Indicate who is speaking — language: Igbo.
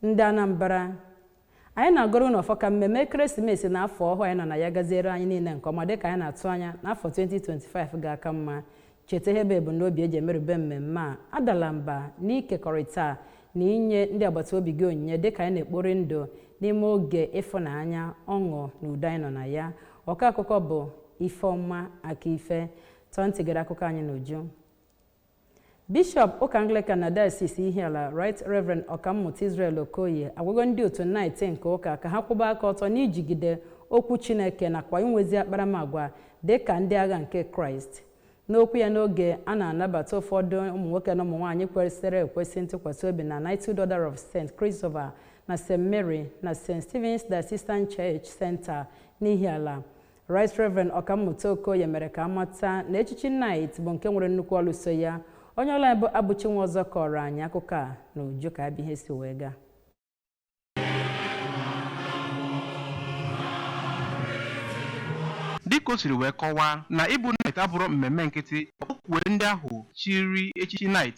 Speaker 1: Ndị Anambra, anyị na-agọrọ unu ọfọ ka mmemme ekeresimesi na afọ ọhụụ anyị nọ na ya gaziere anyị niile nke ọma dịka anyị na-atụ anya na afọ 2025 ga-aka mma. Cheta ihe bụ ebumnobi e ji emerube mmemme a, adala mba n'ikekọrịta na inye ndị agbata obi gị onyinye dịka anyị na-ekpori ndụ n'ime oge ịfụnanya, ọṅụ na udo anyị nọ na ya. Ọkọ akụkọ bụ Ifeọma Akaife. Tọọ ntị gere akụkọ anyị n'uju. Bishọp ụka Anglican na Diocese Ihiala Right Reverend Ọkammụta Israel Okoye agwago ndị otu Knight nke ụka ka ha kwụba aka ọtọ n'ijigide okwu Chineke nakwa inwezi akparamagwa dị ka ndị agha nke Kraịst. N'okwu ya n'oge a na-anabata ụfọdụ ụmụ nwoke na ụmụ nwaanyị kwesịrị ekwesị ntụkwasị obi na Knighthood Order of St. Christopher na St. Mary na St. Stephen's Diocesan Church Center n'Ihiala, Right Reverend Ọkammụta Okoye mere ka a mata na echichi Knight bụ nke nwere nnukwu ọlụ so ya. Onye ọlụ anyị bụ Abụchi Nwọzọ kọọrọ anyị akụkọ a n'uju ka ya bụ ihe si wee gaa.
Speaker 2: Dịka o siri wee kọwaa na ịbụ Knight abụrọ mmemme nkịtị ọ kpọkuwere ndị ahụ chiri echichi Knight